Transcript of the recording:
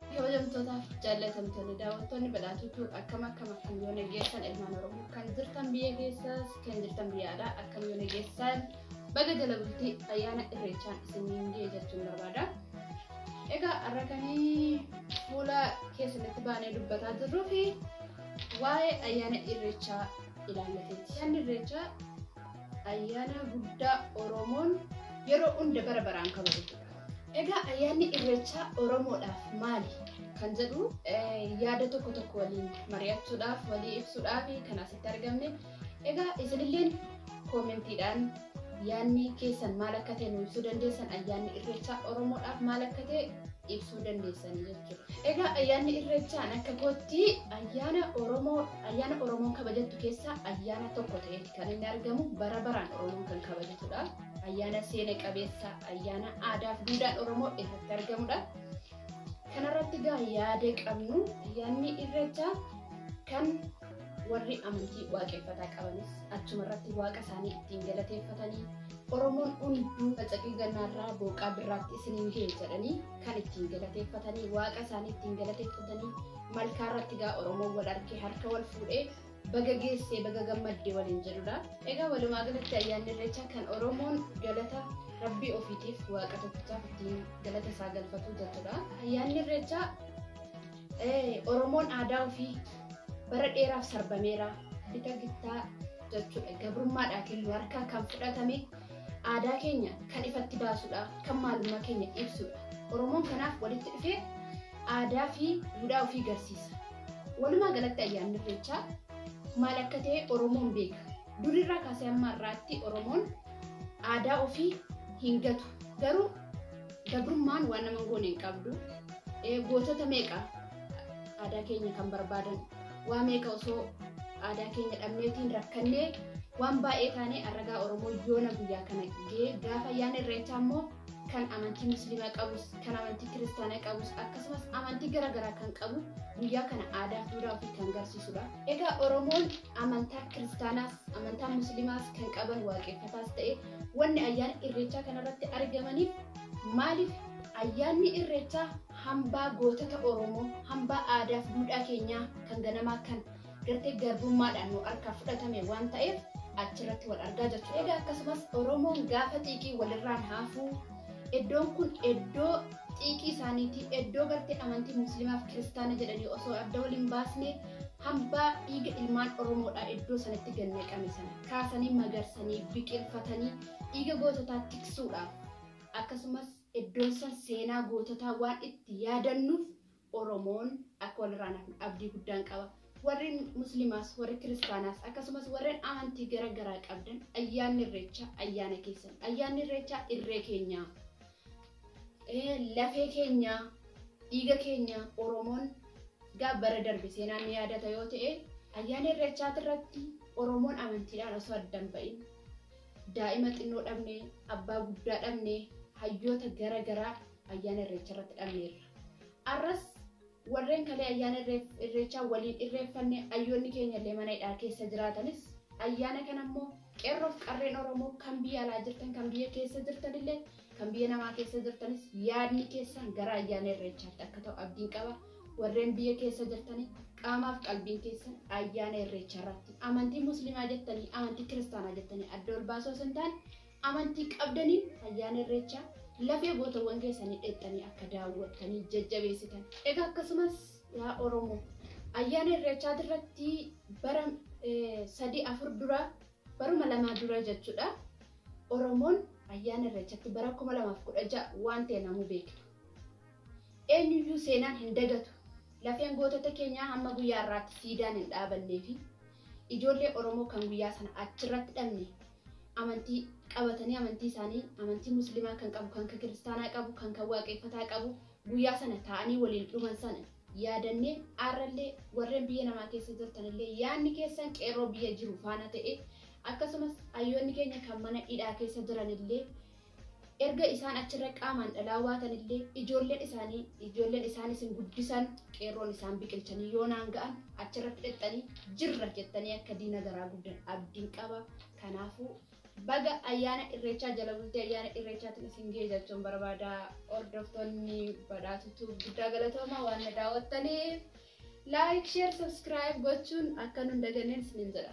Kabajamtootaaf jaallatamtoonni daawwattoonni badhaatuutu akkam akkam akkam yoo nageessan ilmaan oromoo kan jirtan biyya keessaas kan jirtan biyya alaa akkam yoo nageessan baga jala bultii ayyaana irreechaan isiniin ga'e jechuun barbaada. Egaa har'a kan fuula keessanitti baanee dubbataa jirruu fi waa'ee ayyaana irreechaa ilaallateeti. Ayyaanni irreechaa ayyaana guddaa oromoon yeroo hunda bara baraan kabajatu. Egaa ayyaanni irreechaa Oromoodhaaf maali kan jedhu yaada tokko tokko waliin mari'achuudhaaf walii ibsuudhaaf kan asitti argamne. Egaa isinilleen koomentiidhaan yaadni keessan maal akka ta'e nu ibsuu dandeessan ayyaanni irreechaa Oromoodhaaf maal akka ta'e ibsuu dandeessan jechuudha. Egaa ayyaanni irreechaan akka kootti ayyaana Oromoo ayyaana Oromoon kabajattu keessaa ayyaana tokko ta'eeti kan inni argamu bara baraan Oromoon kan kabajatudha. Ayyaana seena qabeessa ayyaana aadaa fi duudhaan Oromoo irratti argamudha. Kanarratti gaa yaada qabnu ayyaanni irreechaa kan warri amantii waaqeffataa qabanis achuma irratti waaqa isaanii ittiin galateeffatanii Oromoon hunduu facaqii gannaarraa booqaa birraatti isiniin ga'e jedhanii kan ittiin galateeffatanii waaqa isaanii ittiin galateeffatanii malkaa irratti gaa Oromoon wal argee harka wal fuudhee baga geesse baga gammadde waliin jedhudha. Egaa walumaa galatti ayyaanni irreechaa kan Oromoon galata rabbii ofiitiif waaqa tokkichaaf ittiin galata isaa galfatu jechuudha. Ayyaanni irreechaa Oromoon aadaa ofii bara dheeraaf sarbameera bita gittaa jechuudha. Gabrummaadhaa kennu harkaa kan fudhatame aadaa keenya kan ifatti baasudha. Kan maalummaa keenya ibsudha. Oromoon kanaaf walitti dhufee aadaa fi duudhaa ofii garsiisa. Walumaa galatti ayyaanni irreechaa maal akka ta'e Oromoon beeka. Durirraa kaasee amma har'aatti Oromoon aadaa ofii hin gatu. Garuu gabrummaan waan nama hin goone hin qabdu. Gootota meeqa aadaa keenya kan barbaadan waa meeqa osoo aadaa keenya dhabneetiin rakkannee waan baay'ee taanee arragaa Oromoo yoona guyyaa kana ga'ee gaafa ayyaana irreechaa immoo kan amantii musliimaa qabus kan amantii kiristaanaa qabus akkasumas amantii gara garaa kan qabu guyyaa kana aadaa fi duudhaa ofii kan garsiisudha. Egaa Oromoon amantaa kiristaanaas amantaa musliimaas kan qaban waaqeffataas ta'e wanni ayyaana irreechaa kanarratti argamaniif maaliif ayyaanni irreechaa hambaa gootota Oromoo hambaa aadaa fi duudhaa keenyaa kan ganamaa kan Gartee garbummaadhaan nu harkaa fudhatame waan ta'eef achirratti wal argaa jechuudha. Egaa akkasumas Oromoon gaafa xiiqii walirraan haafuu iddoon kun iddoo xiiqii isaaniitii iddoo gartee amantii musliimaaf kiristaana jedhanii osoo adda waliin baasne hambaa dhiiga ilmaan Oromoodhaa iddoo sanatti gad naqame sana kaasanii magarsanii biqilfatanii dhiiga goototaa tiksuudhaaf akkasumas iddoon san seenaa goototaa waan itti yaadannuuf Oromoon akka walirraa hin hafne abdii guddaan qaba. Warri Musliimaas, warri Kiristaanaas akkasumas warreen amantii gara garaa qabdan ayyaanni Irreechaa ayyaana keessan. Ayyaanni Irreechaa irree keenyaa, lafee keenyaa, dhiiga keenyaa Oromoon gaa bara darbe seenaan ni yaadata yoo ta'e ayyaana Irreechaa irratti Oromoon amantiidhaan osoo adda hin ba'in daa'ima xinnoo dhabne, abbaa guddaa dhabne, hayyoota gara garaa ayyaana irreecha irratti dhabneerra. Arras warreen kalee ayyaana irreechaa waliin irreeffanne ayyoonni keenya illee mana hidhaa keessa jiraatanis ayyaana kana immoo qeerroof qarreen Oromoo kan biyya alaa jirtan kan biyya keessa jirtan illee kan biyya namaa keessa jirtanis yaadni keessan gara ayyaana irreechaatti akka ta'u abdiin qaba. Warreen biyya keessa jirtanii qaamaaf qalbiin keessan ayyaana irreecha irratti amantii musliimaa jettanii amantii kiristaanaa jettanii adda ol baasuu osoo hin taane Amantii qabdaniin Ayyaana Irreechaa lafee gootawwan keessanii dheexxanii akka daawwattanii jajjabeessitan. Egaa akkasumas yaa Oromoo Ayyaana Irreechaatirratti bara sadii afur dura baruma lamaa dura jechuudha Oromoon Ayyaana Irreechatti bara 2016 waan ta'e namuu beekna. Eenyuyyuu seenaan hin dagatu. Lafeen gootota keenyaa hamma guyyaa har'aatti siidaan hin dhaabannee fi ijoollee Oromoo kan guyyaa sana achirratti dhabne amantii qabatanii amantii isaanii amantii muslimaa kan qabu kan kiristaanaa qabu kan kan waaqeffataa qabu guyyaa sana taa'anii waliin dhuman sana yaadannee aarrallee warreen biyya namaa keessa jirtanillee yaanni keessan qeerroo biyya jiru faana ta'e akkasumas hayyoonni keenya kan mana hidhaa keessa jiranillee Erga isaan achirra qaamaan dhalaa waatan illee ijoolleen isaanii ijoolleen isaan isin guddisan qeerroon isaan biqilchanii yoonaan ga'an achirratti dhexxanii jirra jettanii akka diina garaa gubdan abdiin qaba. Kanaafuu baga ayyaana irreechaa jala bultii ayyaana irreechaatiin isin ga'e jechuun barbaada. Hordoftoonni badhaatu tuub guddaa galatooma waan na daawwattaniif. Like, share, subscribe gochuun akka nun daganneen isiniin jedha.